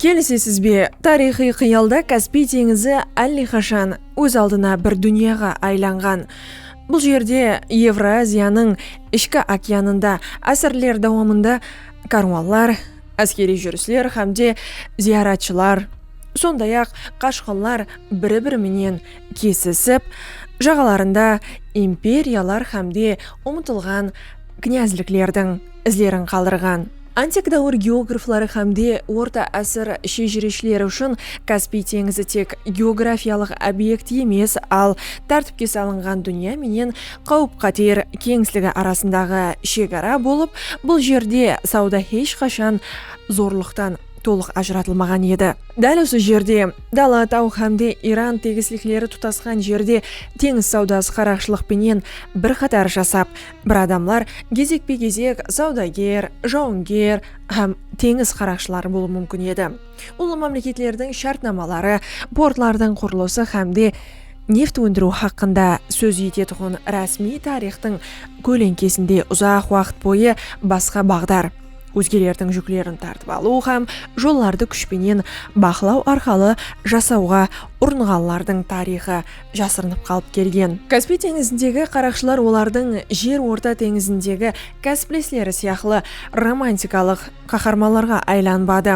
Kelisesiz be? Tariyxıy qıyalda Kaspiy teńizi álleqashan óz aldına bir dúnyaǵa aylanǵan. Bul jerde, Evroaziyanıń ishki okeanında ásirler dawamında kárwanlar, áskeriy júrisler hám de zıyaratshılar, sonday-aq, qashqınlar biri-biri menen kesisip, jaǵalarında imperiyalar hám de umıtılǵan knyazliklerdiń, izlerin qaldırǵan. Antik dáwir geografları hámde orta ásir shejireshleri ushın Kaspiy teńizi tek geografiyalıq obekt emes, al tártipke salınǵan dúnya menen qáwip-qáter keńisligi arasındaǵı shegara bolıp, bul jerde sawda hesh qashan zorlıqtan tolıq ajıratılmaǵan edi. Dál usı jerde, dala, taw hámde Iran tegislikleri tutasqan jerde teńiz sawdası qaraqshılıq penen bir qatar jasap, Bir adamlar gezekpe-gezek sawdager, jawınger hám teńiz qaraqshıları bolıwı múmkin edi. Ullı mámleketlerdiń shártnamaları, portlardıń qurılısı hámde neft óndiriw haqqında sóz etetuǵın rásmiy tariyxtıń kóleńkesinde uzaq waqıt boyı basqa baǵdar, ózgelerdiń júklerin tartıp alıw hám jollardı kúsh penen baqlaw arqalı jasawǵa urınǵanlardıń tariyxı jasırınıp qalıp kelgen. Kaspiy teńizindegi qaraqshılar olardıń Jer orta teńizindegi kásiplesleri sıyaqlı romantikalıq qaharmanlarǵa aylanbadı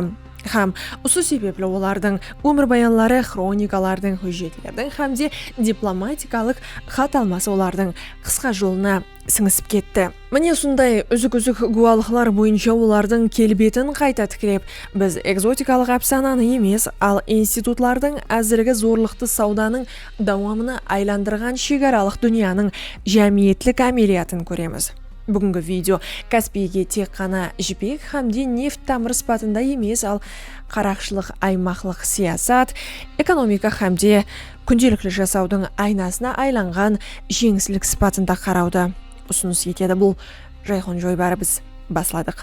hám usı sebepli olardıń ómirbayanları, xronikalardıń, hújjetlerdiń hám de diplomatikalıq xat alması olardıń qısqa jolına sińisip ketti. Mine usınday úzik-úzik gúwalıqlar boyınsha olardıń kelbetin qayta tiklep, biz ekzotikalıq ápsananı emes, al institutlardıń ázirgi zorlıqtı sawdanıń dawamına aylandırǵan shegaralıq dúnyanıń jámiyetlik ámeliyatın kóremiz. Búgingi video Kaspiyge tek ǵana jipek hámde neft tamırı sıpatında emes, al qaraqshılıq aymaqlıq siyasat, ekonomika hámde. kúndelikli jasawdıń aynasına aylanǵan jeńislik sıpatında qarawdı usınıs etedi bul jayxon joybarı biz basladıq.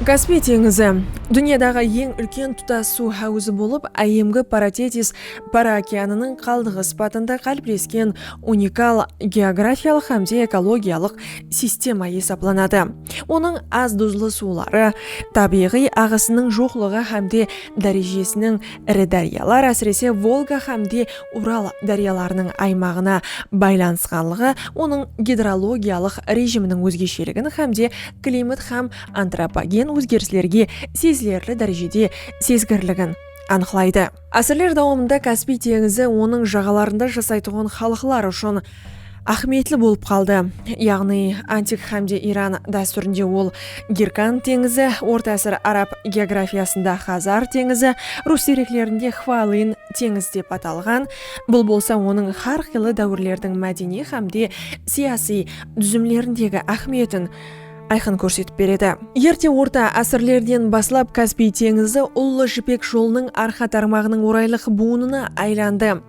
Kaspiy teńizi, dúnyadaǵı eń úlken tutas suw háwızı bolıp, Áyyemgi Paratetis Para okeanınıń qaldıǵı sıpatında qáliplesken unikal geografiyalıq hámde ekologiyalıq sistema esaplanadı. Onıń az duzlı suwları, tábiyǵıy aǵısınıń joqlıǵı hámde dárejesiniń iri dáryalar, ásirese Volga hámde Ural dáryalarınıń aymaǵına baylanısqanlıǵı onıń gidrologiyalıq rejiminiń ózgesheligin hámde klimat hám antropogen ózgerislerge sezilerli dárejede sezgirligin anıqlaydı. Ásirler dawamında Kaspiy teńizi onıń jaǵalarında jasaytuǵın xalıqlar ushın áhmiyetli bolıp qaldı, yaǵnıy antik hámde Iran dástúrinde ol Girkand teńizi, orta ásir arab geografiyasında Xazar teńizi, rus dereklerinde Xvalyn teńizi dep atalǵan, bul bolsa onıń xár qıylı dáwirlerdiń mádeniy hámde siyasiy dúzimlerindegi áhmiyetin ayqın kórsetip beredi. Erte orta ásirlerden baslap Kaspiy teńizi Ullı jipek jolınıń arqa tarmaǵınıń oraylıq buwınına aylandı.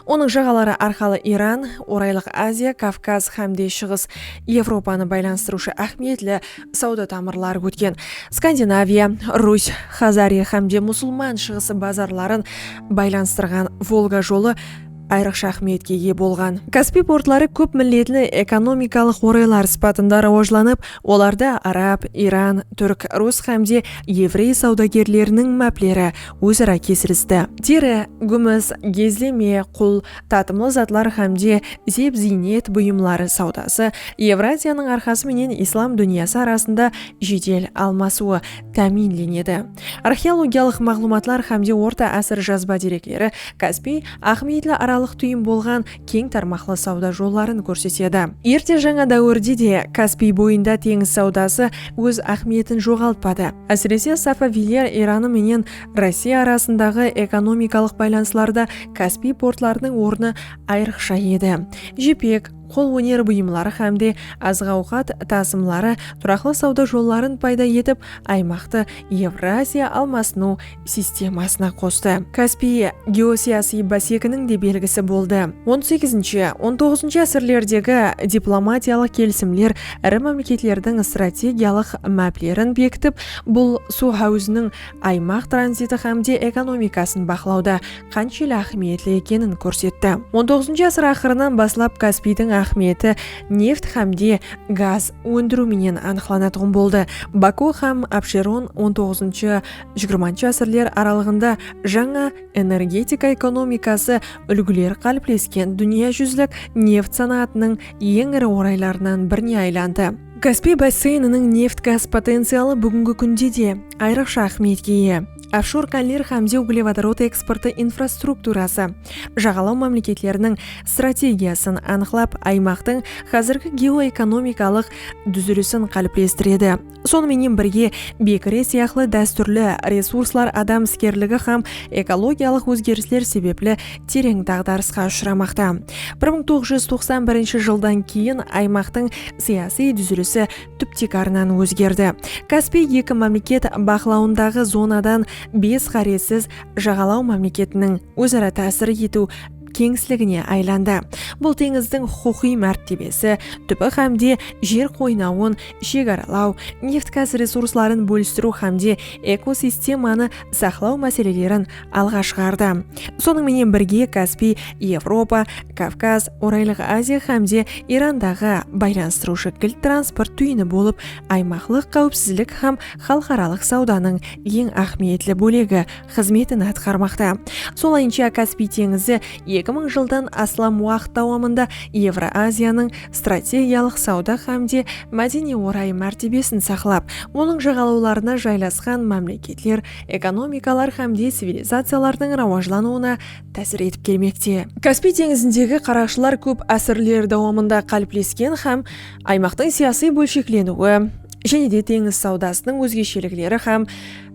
Onıń jaǵaları arqalı Iran, Oraylıq Aziya, Kavkaz hám de Shıǵıs Evropanı baylanıstırıwshı áhmiyetli sawda tamırları ótken Skandinaviya, Rus, Xazari hám de Musulman Shıǵısı bazarların baylanıstırǵan Volga jolı ayrıqsha áhmiyetke iye bolǵan. Kaspiy portları kóp milletli ekonomikalıq oraylar sıpatında rawajlanıp, olarda arab, iran, túrk, rus hám de evrey sawdagerleriniń mápleri óz-ara kesilisti. Teri, gúmis, gezleme, qul, tatımlı zatlar hám de zep-ziynet buyımları sawdası Evraziyanıń arqası menen islam dúnyası arasında jedel almasıwı, támiyinlenedi. Arxeologiyalıq maǵlıwmatlar hámde orta ásir jazba derekleri Kaspiy, Aqmeyitli aralıq túyin bolǵan keń tarmaqlı sawda jolların kórsetedi. Erte jańa dáwirde de Kaspiy boyında teńiz sawdası óz áhmiyetin joǵaltpadı. Ásirese, Safaviyler Iranı menen Rossiya arasındaǵı ekonomikalıq baylanıslarda Kaspiy portlarınıń ornı ayrıqsha edi. Jipek. qol óneri buyımları hám de azıq-awqat tasımları turaqlı sawda jolların payda etip, aymaqtı Evraziya almasınıw sistemasına qostı. Kaspiy geosiyasıy básekiniń de belgisi boldı. On segizinshi, on toǵızınshı ásirlerdegi diplomatiyalıq kelisimler iri mámleketlerdiń strategiyalıq máplerin bekitip, bul suw háwiziniń aymaq tranziti hám de ekonomikasın baqlawda qanshelli áhmiyetli ekenin kórsetti. On toǵızıncı asır aqırınan baslap Kaspiydiń áhmiyeti neft hám de gaz óndiriw menen anıqlanatuǵın boldı. Baku hám Absheron on toǵızıncı-jigirmanshı asırler aralıǵında jańa energetika ekonomikası úlgileri qáliplesken dúnya júzlik neft sanaatınıń eń iri oraylarınan birine aylandı. Kaspiy basseyniniń neft-gaz potencialı búgingi kúnde de ayrıqsha áhmiyetke iye. ofshor kánler hám de uglevodorod eksportı infrastrukturası, jaǵalaw mámleketleriniń strategiyasın anıqlap, aymaqtıń házirgi geoekonomikalıq dúzilisin qáliplestiredi. Sonı menen birge, bekire sıyaqlı dástúrli resurslar adam iskerligi hám ekologiyalıq ózgerisler sebepli tereń daǵdarısqa ushıramaqta. Bir mıń toǵız júz toqsan birinshi jıldan keyin aymaqtıń siyasıy dúzilisi túp tiykarınan ózgerdi. Kaspiy eki mámleket baqlawındaǵı zonadan bes ǵárezsiz jaǵalaw mámleketiniń óz-ara tásir etiw keńisligine aylandı. Bul teńizdiń huqıqıy mártebesi, túbi hámde jer qoynawın shegaralaw, neft-gaz resursların bólistiriw hámde ekosistemanı saqlaw máselelerin alǵa shıǵardı. Sonıń menen birge Kaspiy, Evropa, Kavkaz, Oraylıq Aziya hám de Irandaǵı baylanıstırıwshı kilt transport túyini bolıp, aymaqlıq qáwipsizlik hám xalıqaralıq sawdanıń eń áhmiyetli bólegi xızmetin atqarmaqta. Solayınsha Kaspiy teńizi eki mıń jıldan aslam waqıt dawamında Evroaziyanıń strategiyalıq sawda hám de mádeniy-oray mártebesin saqlap, onıń jaǵalawlarına jaylasqan mámleketler ekonomikalar hám de civilizaciyalardıń rawajlanıwına tásir etip kelmekte. Kaspiy teńizindegi qaraqshılar kóp ásirler dawamında qáliplesken hám aymaqtıń siyasıy bólshekleniwi, jáne de teńiz sawdasınıń ózgeshelikleri hám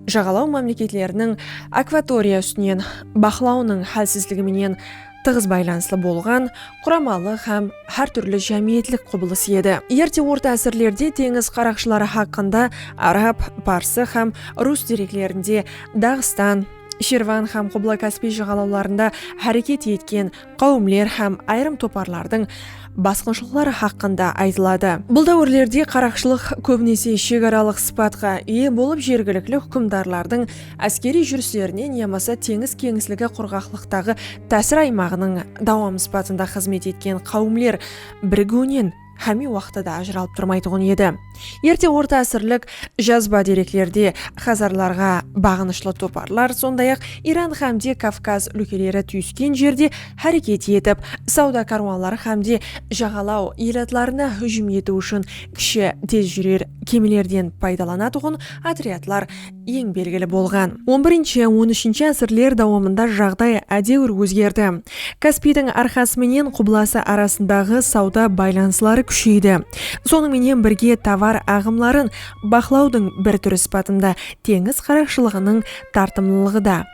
jaǵalaw mámleketleriniń akvatoriya ústinen baqlawınıń hálsizligi menen tıǵız baylanıslı bolǵan quramalı hám hár túrli jámiyetlik qubılıs edi. Erte orta ásirlerde teńiz qaraqshıları haqqında arab, parsı hám rus dereklerinde Daǵıstan, Shirvan hám Qubla-Kaspiy jıǵalawlarında háreket etken qáwimler hám ayırım toparlardıń basqınshılıqları haqqında aytıladı. Bul dáwirlerde qaraqshılıq kóbinese shegaralıq sıpatqa iye bolıp jergilikli húkimdarlardıń áskeriy júrislerinen yamasa teńiz keńisligi qurǵaqlıqtaǵı tásir aymaǵınıń dawamı sıpatında xızmet etken qáwimler birigiwinen hámme waqıtta da ajıralıp turmaytuǵın edi. Erte orta ásirlik jazba dereklerde xazarlarǵa baǵınıshlı toparlar, sonday-aq, Iran hámde Kavkaz úlkeleri túyisken jerde háreket etip, sawda kárwanları hámde jaǵalaw elatlarına hújim etiw ushın kishi tez júrer kemilerden paydalanatuǵın otryadlar Eń belgili bolǵan on birinshi, on úshinshi ásirler dawamında jaǵday ádewir ózgerdi. Kaspiydiń arqası menen qublası arasındaǵı sawda baylanısları kúsheydi. Sonıń menen birge tovar aǵımların baqlawdıń bir túri sıpatında teńiz qaraqshılıǵınıń tartımlılıǵı da.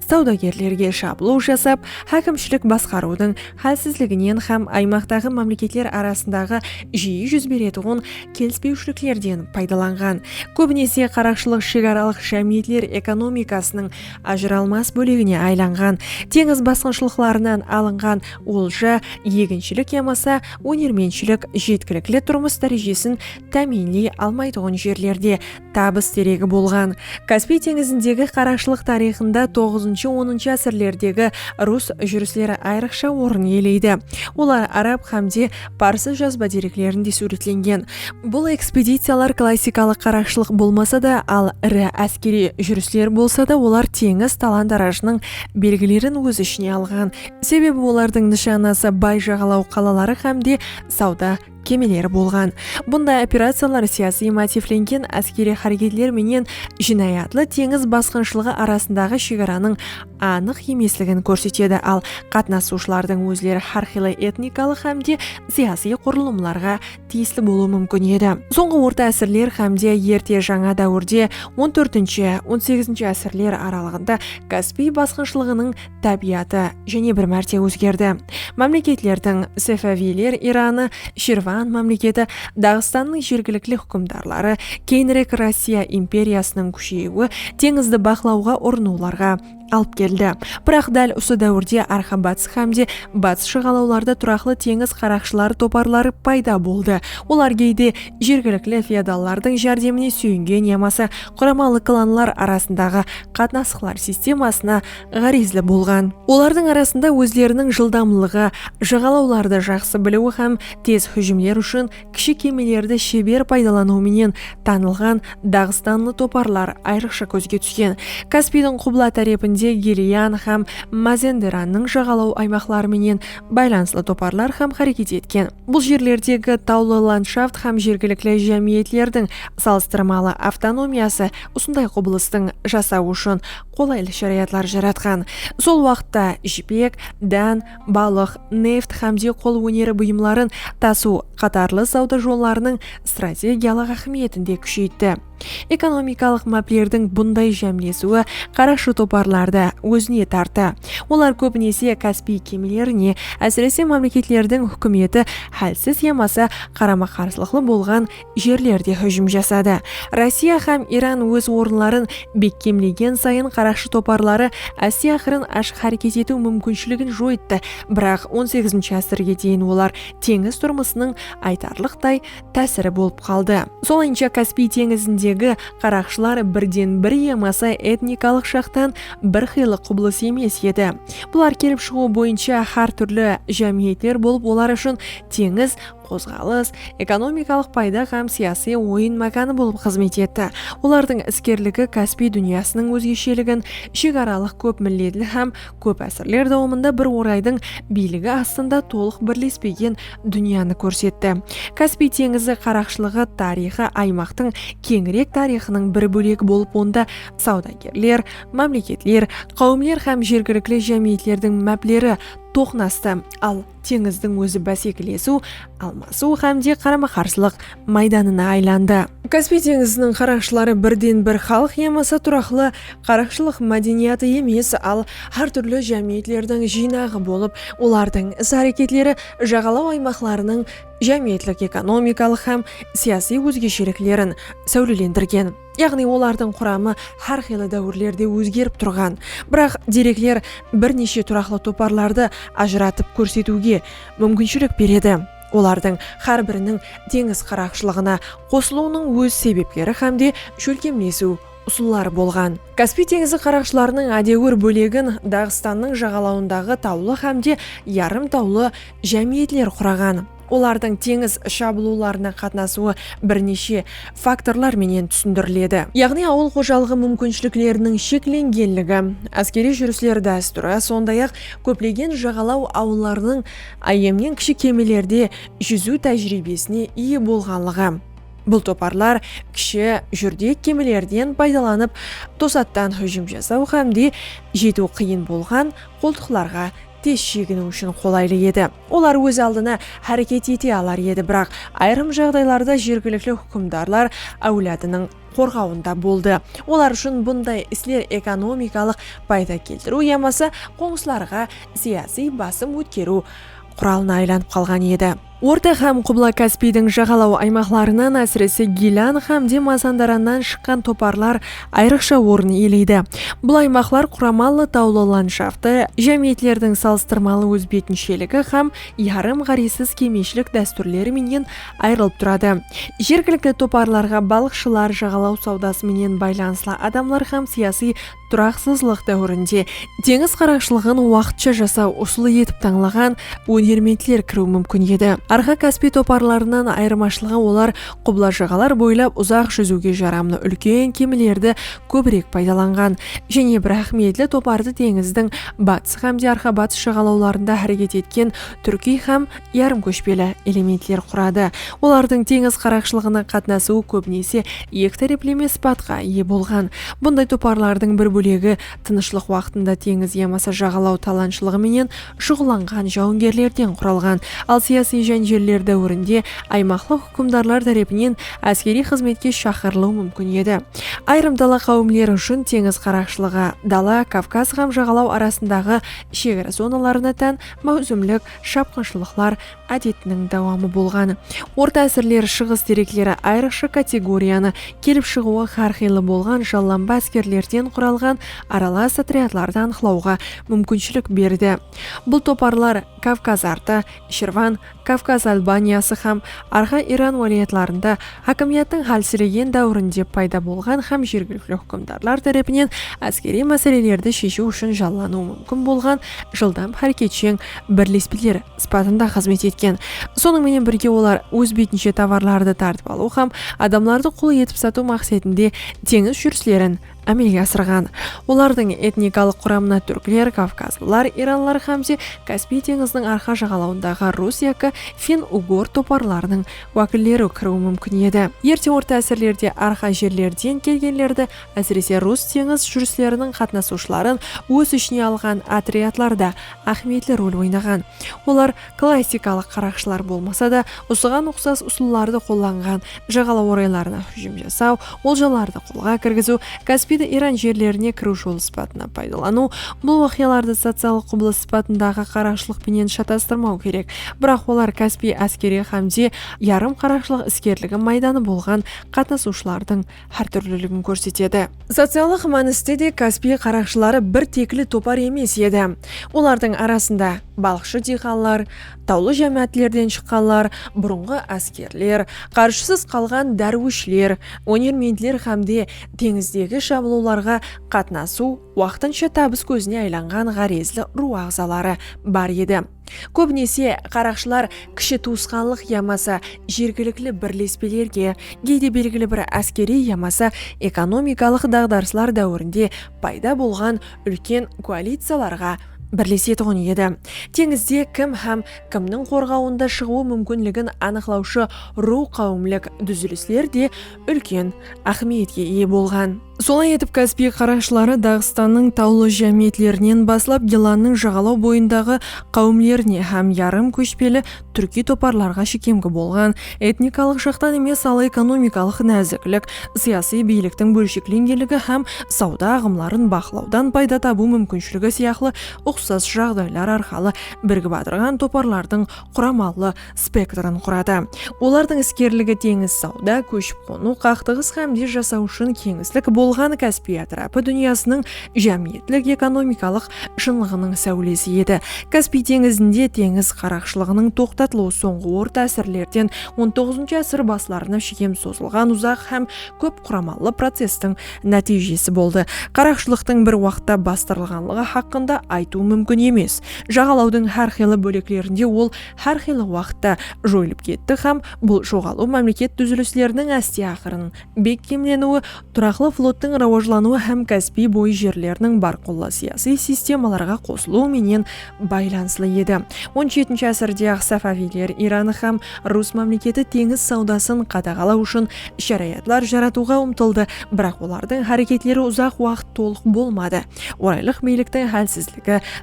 sawdagerlerge shaplıw jasap, hákimshilik basqarıwdıń hálsizliginen hám aymaqtaǵı mámleketler arasındaǵı jiyi júz beretuǵın kelispewshiliklerden paydalanǵan. Kóbinese qaraqshılıq shegaralıq jámiyetler ekonomikasınıń ajıralmas bólegine aylanǵan. Teńiz basqınshılıqlarınan alınǵan olja, eginshilik yamasa ónermentshilik jetkilikli turmıs dárejesin támiyinley almaytuǵın jerlerde Tabıs deregi bolǵan Kaspiy teńizindegi qaraqshılıq tariyxında toǵızınshı-onınshı ásirlerdegi rus júrisleri ayrıqsha orın iyeleydi. Olar arab hám de parsı jazba dereklerinde súwretlengen. Bul ekspediciyalar klassikalıq qaraqshılıq bolmasa da, al iri áskeriy júrisler bolsa da olar teńiz talan-tarajınıń belgilerin óz ishine alǵan. Sebebi olardıń nıshanası bay jaǵalaw qalaları hám de sawda kemeleri bolǵan. Bunday operaciyalar siyasiy motivlengen áskeriy háreketler menen jınayatlı teńiz basqınshılıǵı arasındaǵı shegaranıń anıq emesligin kórsetedi, al qatnasıwshılardıń ózleri hár qıylı etnikalıq hám de siyasiy qurılımlarǵa tiyisli bolıwı múmkin edi. Sońǵı orta ásirler hám de erte jańa dáwirde, on tórtinshi, on segizinshi ásirler aralıǵında Kaspiy basqınshılıǵınıń tábiyatı jáne bir márte ózgerdi. Mámleketlerdiń, Safaviyler Iranı, Shirvan mámleketi, Daǵıstannıń jergilikli húkimdarları, keyinirek Rossiya imperiyasınıń kúsheyiwi teńizdi baqlawǵa urınıwlarǵa alıp keldi. Biraq dál usı dáwirde Arxa-Batıs hámde Batıs shıǵalawlarda turaqlı teńiz qaraqshıları toparları payda boldı, olar geyde jergilikli feodallardıń járdemine súyingen yamasa quramalı klanlar arasındaǵı qatnasıqlar sistemasına ǵárezli bolǵan. Olardıń arasında ózleriniń jıldamlıǵı, jaǵalawlardı jaqsı biliwi hám tez hújimler ushın kishi kemelerdi sheber paydalanıwı menen tanılǵan daǵıstanlı toparlar ayrıqsha kózge túsken. Kaspiydiń qubla tárepinde Geliyan hám Mazenderannıń jaǵalaw aymaqları menen baylanıslı toparlar hám háreket etken. Bul jerlerdegi tawlı landshaft hám jergilikli jámiyetlerdiń salıstırmalı avtonomiyası usınday qubılıstıń jasawı ushın qolaylı sharayatlar jaratqan. Sol waqıtta jipek, dán, balıq, neft hámde qol óneri buyımların tasıw qatarlı sawda jollarınıń strategiyalıq áhmiyetin de kúsheytti. Ekonomikalıq máplerdiń bunday jámlesiwi qaraqshı toparlardı ózine tarttı. Olar kóbinese Kaspiy kemilerine, ásirese mámleketlerdiń húkimeti hálsiz yamasa qarama-qarsılıqlı bolǵan jerlerde hújim jasadı. Rossiya hám Iran óz orınların bekkemlegen sayın qaraqshı toparları Asiya-Qırın ashıq háreket etiw múmkinshiligin joyttı, biraq on segizinshi ásirge deyin olar teńiz turmısınıń aytarlıqtay tásiri bolıp qaldı. Solayınsha Kaspiy teńizindegi qaraqshılar birden bir yamasa etnikalıq jaqtan bir qıylı qubılıs emes edi. Bular kelip shıǵıw boyınsha hár túrli jámiyetler bolıp olar ushın teńiz qozǵalıs, ekonomikalıq payda hám siyasiy oyın mákanı bolıp xızmet etti. Olardıń iskerligi Kaspiy dúnyasınıń ózgesheligin, ishegaralıq kóp milletli hám kóp ásirler dawamında bir oraydıń biyligi astında tolıq birlespegen dúnyanı kórsetti. Kaspiy teńizi qaraqshılıǵı tariyxı aymaqtıń keńirek tariyxınıń bir bólegi bolıp onda sawdagerler, mámleketler, qáwimler hám jergilikli jámiyetlerdiń mápleri toqnastı, al, teńizdiń ózi básekilesiw, almasıw hám de qarama-qarsılıq maydanına aylandı. Kaspiy teńiziniń qaraqshıları birden-bir xalıq yamasa turaqlı qaraqshılıq mádeniyatı emes, al hár túrli jámiyetlerdiń jıynaǵı bolıp, olardıń is-háreketleri jaǵalaw aymaqlarınıń jámiyetlik-ekonomikalıq hám siyasiy ózgesheliklerin sáwlelendirgen. Yaǵnıy olardıń quramı hár qıylı dáwirlerde ózgerip turǵan, biraq derekler bir neshe turaqlı toparlardı ajıratıp kórsetiwge múmkinshilik beredi. Olardıń hár biriniń teńiz qaraqshılıǵına qosılıwınıń óz sebepleri hám de shólkemlesiw usılları bolǵan. Kaspiy teńizi qaraqshılarınıń ádewir bólegin Daǵıstannıń jaǵalawındaǵı tawlı hám de yarım tawlı jámiyetler quraǵan. Olardıń teńiz shabılıwlarına qatnasıwı bir neshe faktorlar menen túsindiriledi. Yaǵnıy awıl xojalıǵı múmkinshilikleriniń sheklengenligi, áskeriy júrisler dástúri, sonday-aq, kóplegen jaǵalaw awıllarınıń áyyemnen kishi kemelerde júziw tájiriybesine iye bolǵanlıǵı, bul toparlar kishi, júrdek kemelerden paydalanıp tosattan hújim jasaw hámde jetiw qıyın bolǵan qoltıqlarǵa tez sheginiw ushın qolaylı edi. Olar óz aldına háreket ete alar edi, biraq ayırım jaǵdaylarda jergilikli húkimdarlar áwladınıń qorǵawında boldı. Olar ushın bunday isler ekonomikalıq payda keltiriw yamasa qońsılarǵa siyasiy basım ótkeriw quralına aylanıp qalǵan edi. Orta hám Qubla-Kaspiydiń jaǵalaw aymaqlarınan, ásirese Gilán hám de Mazandarannan shıqqan toparlar ayrıqsha orın iyeleydi. Bul aymaqlar quramallı tawlı landshaftı, jámiyetlerdiń salıstırmalı ózbetinsheligi hám yarım ǵárezsiz kemeyshilik dástúrleri menen ayrılıp turadı. Jergilikli toparlarǵa balıqshılar, jaǵalaw sawdası menen baylanıslı adamlar hám siyasıy turaqsızlıq dáwirinde teńiz qaraqshılıǵın waqıtsha jasaw usılı etip tańlaǵan ónermentler kiriw múmkin edi. Arxa-Kaspiy toparlarınan ayırmashılıǵı olar Qubla-jaǵalar boylap uzaq júziwge jaramlı úlken kemilerdi kóbirek paydalanǵan jáne bir áhmiyetli topardı teńizdiń batıs hám de arqa-batıs jaǵalawlarında háreket etken túrkiy hám yarım kóshpeli elementler quradı. Olardıń teńiz qaraqshılıǵına qatnasıwı kóbinese eki tárepleme sıpatqa iye bolǵan. Bunday toparlardıń bir bólegi tınıshlıq waqtında teńiz yamasa jaǵalaw talanshılıǵı menen shuǵıllanǵan jawıngerlerden quralǵan, al siyasiy jánjelleri dáwirinde aymaqlıq húkimdarlar tárepinen áskeriy xızmetke shaqırılıw múmkin edi. Ayırım dala qáwimleri ushın teńiz qaraqshılıǵı dala, Kavkaz hám jaǵalaw arasındaǵı shegara zonalarına tán máwsimlik shapqınshılıqlar ádetiniń dawamı bolǵan. Orta ásirler Shıǵıs terekleri ayrıqsha kategoriyanı, kelip shıǵıwı hár qıylı bolǵan jallanba áskerlerden quralǵan aralas otryadlardı anıqlawǵa múmkinshilik berdi. Bul toparlar Kavkaz artı, Shirvan, Kavkaz Albaniyası hám Arxa Iran wálayatlarında hákimiyattıń hálsiregen dáwirinde payda bolǵan hám jergilikli húkimdarlar tárepinen áskeriy máselelerdi sheshiw ushın jallanıwı múmkin bolǵan jıldam háreketsheń birlespeler sıpatında xızmet etken. Sonıń menen birge olar óz betinshe tovarlardı tartıp alıw hám adamlardı qul etip satıw maqsetinde teńiz júrislerin ámelge asırǵan. Olardıń etnikalıq quramına túrkler, kavkazlılar, iranlar hám de Kaspiy teńiziniń arqa jaǵalawındaǵı rus yaki finn-ugor toparlarınıń wákilleri kiriwi múmkin edi. Erte orta ásirlerde arqa jerlerden kelgenlerdi Ásirese rus teńiz júrisleriniń qatnasıwshıların óz ishine alǵan otryadlarda áhmiyetli rol oynaǵan. Olar klassikalıq qaraqshılar bolmasa da, usıǵan uqsas usıllardı qollanǵan, jaǵalaw oraylarına hújim jasaw, oljalardı qolǵa kirgiziw, Kaspiydi Iran jerlerine kiriw jolı sıpatına paydalanıw, bul waqıyalardı sociallıq qubılıs sıpatındaǵı qaraqshılıq penen shatastırmaw kerek, biraq olar Kaspiy áskeri hámde yarım qaraqshılıq iskerligi maydanı bolǵan qatnasıwshılardıń hár túrliligin kórsetedi. Sociallıq mániste de Kaspiy qaraqshıları bir tekli topar emes edi. Olardıń arasında balıqshı diyqanlar, tawlı jámáátlerden shıqqanlar, burınǵı áskerler, qarjısız qalǵan dárwishler, ónermentler hám de teńizdegi shabılıwlarǵa qatnasıw waqtınsha tabıs kózine aylanǵan ǵárezli ruw aǵzaları bar edi. Kóbinese, qaraqshılar kishi tuwısqanlıq yamasa jergilikli birlespelerge, geyde belgili bir áskeriy yamasa ekonomikalıq daǵdarıslar dáwirinde payda bolǵan úlken koaliciyalarǵa birlesetuǵın edi. Teńizde kim hám kimniń qorǵawında shıǵıwı múmkinligin anıqlawshı ruw-qáwimlik dúzilisler de úlken áhmiyetke iye bolǵan. Solay etip Kaspiy qaraqshıları Daǵıstannıń tawlı jámiyetlerinen baslap Gilannıń jaǵalaw boyındaǵı qáwimlerine hám yarım kóshpeli túrkiy toparlarǵa shekemgi bolǵan, etnikalıq jaqtan emes al ekonomikalıq náziklik, siyasıy biyliktiń bólsheklengenligi hám sawda aǵımların baqlawdan payda tabıw múmkinshiligi sıyaqlı uqsas jaǵdaylar arqalı birgip atırǵan toparlardıń quramalı spektrin quradı. Olardıń iskerligi teńiz, sawda, kóship-qonıw, qaqtıǵıs hám de jasaw ushın keńislik bolǵan Kaspiy átirapı dúnyasınıń jámiyetlik-ekonomikalıq shınlıǵınıń sáwlesi edi. Kaspiy teńizinde teńiz qaraqshılıǵınıń toqtatılıwı sońǵı orta ásirlerden on toǵızınshı ásir baslarına shekem sozılǵan uzaq hám kóp quramallı processtiń nátiyjesi boldı. Qaraqshılıqtıń bir waqıtta bastırılǵanlıǵı haqqında aytıw múmkin emes. Jaǵalawdıń hár qıylı bóleklerinde ol hár qıylı waqıtta joyılıp ketti hám bul joǵalıw mámleket dúzilisleriniń áste aqırın bekkemleniwi, turaqlı flottıń rawajlanıwı hám Kaspiy boyı jerleriniń bárqulla siyasıy sistemalarǵa qosılıwı menen baylanıslı edi. On jetinshi ásirde-aq Safaviyler Iran hám Rus mámleketi teńiz sawdasın qadaǵalaw ushın sharayatlar jaratıwǵa umtıldı, biraq olardıń háreketleri uzaq waqıt tolıq bolmadı, oraylıq biyliktiń hálsizligi,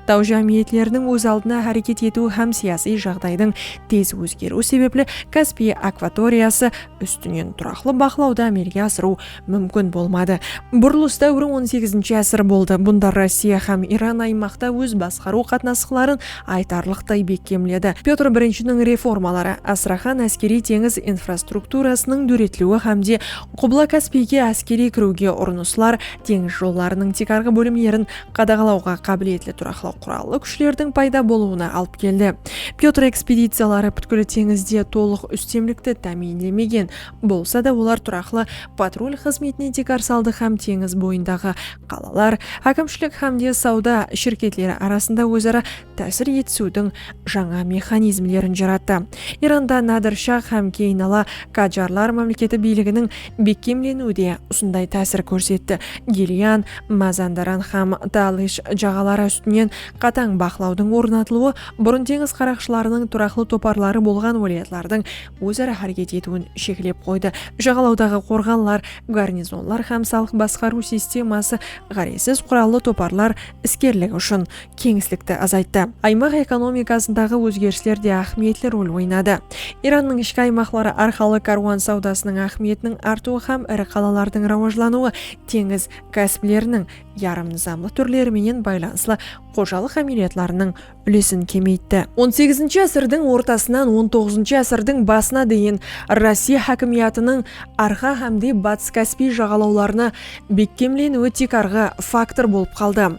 Taw jámiyetleriniń óz aldına háreket etiw hám siyasiy jaǵdaydıń tez ózgeriwi sebepli Kaspiy akvatoriyası ústinen turaqlı baqlawdı ámelge asırıw múmkin bolmadı. Burılıs dáwiri on segizinshi ásir boldı, bunda Rossiya hám Iran aymaqta óz basqarıw qatnasıqların aytarlıqtay bekkemledi. Pyotr Birinshiniń reformaları, Astraxan áskeriy-teńiz infrastrukturasınıń dóretiliwi hám de Qubla-Kaspiyge áskeriy kiriwge urınıslar, teńiz jollarınıń tiykarǵı bólimlerin qadaǵalawǵa qábiletli turaqlı qurallı kúshlerdiń payda bolıwına alıp keldi. Pyotr ekspediciyaları pútkil teńizde tolıq ústemlikti támiyinlemegen bolsa da, olar turaqlı patrul xızmetine tiykar saldı hám teńiz boyındaǵı qalalar, hákimshilik hám de sawda shirketleri arasında óz-ara tásir etisiwdiń jańa mexanizmlerin jarattı. Iranda Nadir Shah hám keyin ala Qajarlar mámleketi biyliginiń bekkemleniwi de usınday tásir kórsetti, Gilyan, Mazandaran hám Talish jaǵaları ústinen qatań baqlawdıń ornatılıwı burın teńiz qaraqshılarınıń turaqlı toparları bolǵan wálayatlardıń óz-ara háreket etiwin sheklep qoydı, jaǵalawdaǵı qorǵanlar, garnizonlar hám salıq basqarıw sisteması ǵárezsiz qurallı toparlar iskerligi ushın keńislikti azayttı. Aymaq ekonomikasındaǵı ózgerisler de áhmiyetli rol oynadı. Irannıń ishki aymaqları arqalı kárwan sawdasınıń áhmiyetiniń artıwı hám iri qalalardıń rawajlanıwı teńiz kásipleriniń yarım nızamlı túrleri menen baylanıslı xojalıq ámeliyatlarınıń úlesin kemeytti. On segizinshi ásirdiń ortasınan on toǵızınshı ásirdiń basına deyin Rossiya hákimiyatınıń Arqa hámde Batıs Káspiy jaǵalawlarına bekkemleniwi tiykarǵı faktor bolıp qaldı.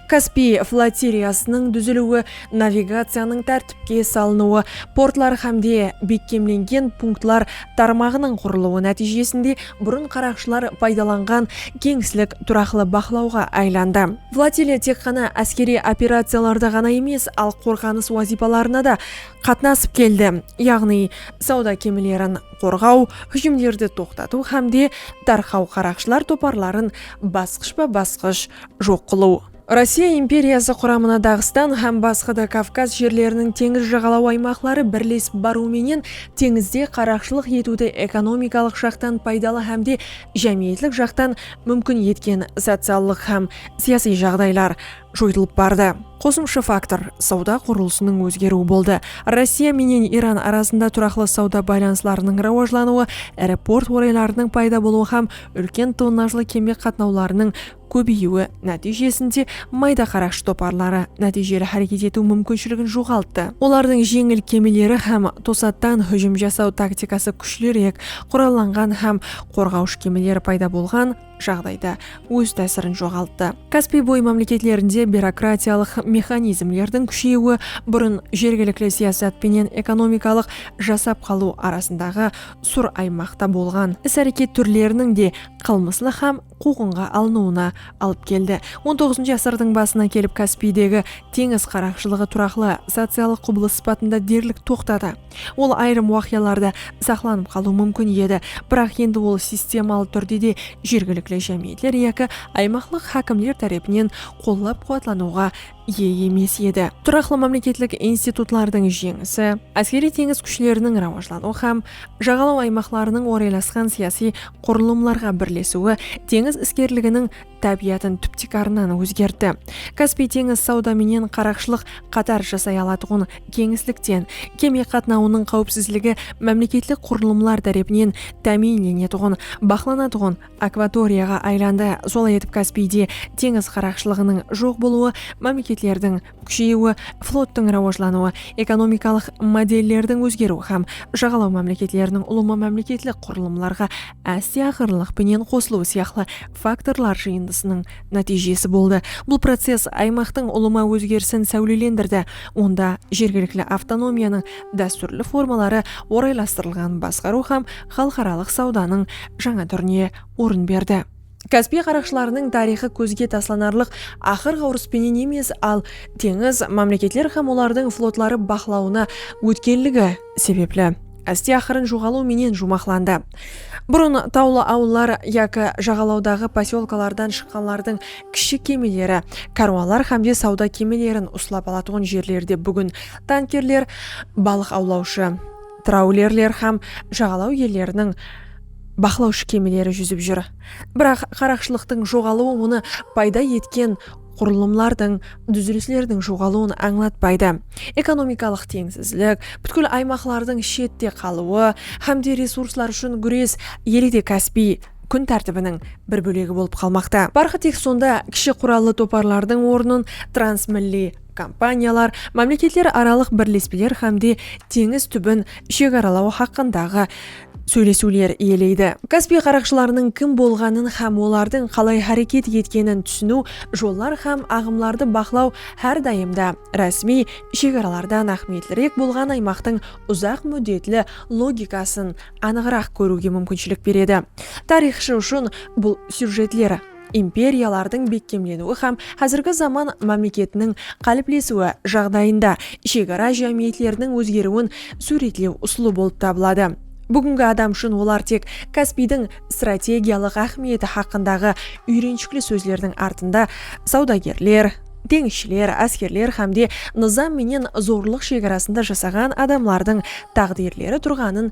Kaspiy flotiliyasınıń dúziliwi, navigaciyanıń tártipke salınıwı, portlar hámde bekkemlengen punktlar tarmaǵınıń qurılıwı nátiyjesinde burın qaraqshılar paydalanǵan keńislik turaqlı baqlawǵa aylandı. Flotiliya tek ǵana áskeriy operaciyalarda ǵana emes, al qorǵanıs wazıypalarına da qatnasıp keldi, yaǵnıy sawda kemilerin qorǵaw, hújimlerdi toqtatıw hámde tarqaw qaraqshılar toparların basqıshpa-basqısh joq qılıw. Rossiya imperiyası quramına Daǵıstan hám basqa da Kavkaz jerleriniń teńiz jaǵalaw aymaqları birlesip barıw menen teńizde qaraqshılıq etiwdi ekonomikalıq jaqtan paydalı hám de jámiyetlik jaqtan múmkin etken sociallıq hám siyasiy jaǵdaylar joytılıp bardı. Qosımsha faktor, sawda qurılısınıń ózgeriwi boldı. Rossiya menen Iran arasında turaqlı sawda baylanıslarınıń rawajlanıwı, iri port oraylarınıń payda bolıwı hám úlken tonnajlı keme qatnawlarınıń kóbeyiwi nátiyjesinde mayda qaraqshı toparları nátiyjeli háreket etiw múmkinshiligin joǵalttı. Olardıń jeńil kemileri hám tosattan hújim jasaw taktikası kúshliirek qurallanǵan hám qorǵawshı kemileri payda bolǵan jaǵdayda óz tásirin joǵalttı. Kaspiy boyı mámleketlerinde byurokratiyalıq mexanizmlerdiń kúsheyiwi burın jergilikli siyasat penen ekonomikalıq jasap qalıw arasındaǵı sur aymaqta bolǵan is-háreket túrleriniń de qılmıslıq hám quwqınǵa alınıwına alıp keldi. On toǵızınshı ásirdiń basına kelip Kaspiydegi teńiz qaraqshılıǵı turaqlı sociallıq qubılıs sıpatında derlik toqtadı. Ol ayırım waqıyalarda saqlanıp qalıwı múmkin edi, biraq endi ol sistemalı túrde de jergilikli jámiyetler yaki aymaqlıq hákimler tárepinen qollap-quwatlanıwǵa iye emes edi. Turaqlı mámleketlik institutlardıń jeńisi, áskeriy-teńiz kúshleriniń rawajlanıwı hám jaǵalaw aymaqlarınıń oraylasqan siyasiy qurılımlarǵa birlesiwi teńiz iskerliginiń tábiyatın túp-tiykarınan ózgertti. Kaspiy teńiz sawda menen qaraqshılıq qatar jasay alatuǵın keńislikten, keme qatnawınıń qáwipsizligi mámleketlik qurılımlar tárepinen támiyinlenetuǵın, baqlanatuǵın, akvatoriyaǵa aylandı. Solay etip Kaspiyde teńiz qaraqshılıǵınıń joq bolıwı, mámleketlerdiń kúsheyiwi, flottıń rawajlanıwı, ekonomikalıq modellerdiń ózgeriwi hám jaǵalaw mámleketleriniń ulıwma mámleketlik qurılımlarǵa áste aqırınlıq penen qosılıwı sıyaqlı faktorlar jıyındısınıń nátiyjesi boldı. Bul process aymaqtıń ulıwma ózgerisin sáwlelendirdi, onda jergilikli avtonomiyanıń dástúrli formaları oraylastırılǵan basqarıw hám xalıqaralıq sawdanıń jańa túrine orın berdi. Kaspiy qaraqshılarınıń tariyxı kózge taslanarlıq aqır-ǵawrıs penen emes, al teńiz mámleketler hám olardıń flotları baqlawına ótkenligi sebepli áste-aqırın joǵalıw menen juwmaqlandı. Burın tawlı awıllar yaki jaǵalawdaǵı posyolkalardan shıqqanlardıń kishi kemeleri, kárwanlar hámde sawda kemelerin uslap alatuǵın jerlerde búgin tankerler, balıq awlawshı, Traulerler hám jaǵalaw elleriniń baqlawshı kemeleri júzip júr. Biraq qaraqshılıqtıń joǵalıwı onı payda etken qurılımlardıń, dúzilislerdiń joǵalıwın ańlatpaydı. Ekonomikalıq teńsizlik, pútkil aymaqlardıń shette qalıwı hám de resurslar ushın gúres ele de Kaspiy kún tártibiniń bir bólegi bolıp qalmaqta. Parqı tek sonda kishi qurallı toparlardıń ornın transmilliy, kompaniyalar, mámleketler aralıq birlespeler hámde teńiz túbin shegaralaw haqqındaǵı sóylesiwler iyeleydi. Kaspiy qaraqshılarınıń kim bolǵanın hám olardıń qalay háreket etkenin túsiniw, jollar hám aǵımlardı baqlaw hár dayım da rásmiy shegaralardan áhmiyetlirek bolǵan aymaqtıń uzaq múddetli logikasın anıǵıraq kóriwge múmkinshilik beredi. Tariyxshı ushın bul syujetler. imperiyalardıń bekkemleniwi hám házirgi zaman mámleketiniń qáliplesiwi jaǵdayında shegara jámiyetleriniń ózgeriwin súwretlew usılı bolıp tabıladı. Búgingi adam ushın olar tek Kaspiydiń strategiyalıq áhmiyeti haqqındaǵı úyrenshikli sózlerdiń artında sawdagerler, teńizshiler, áskerler hámde nızam menen zorlıq shegarasında jasaǵan adamlardıń táǵdirleri turǵanın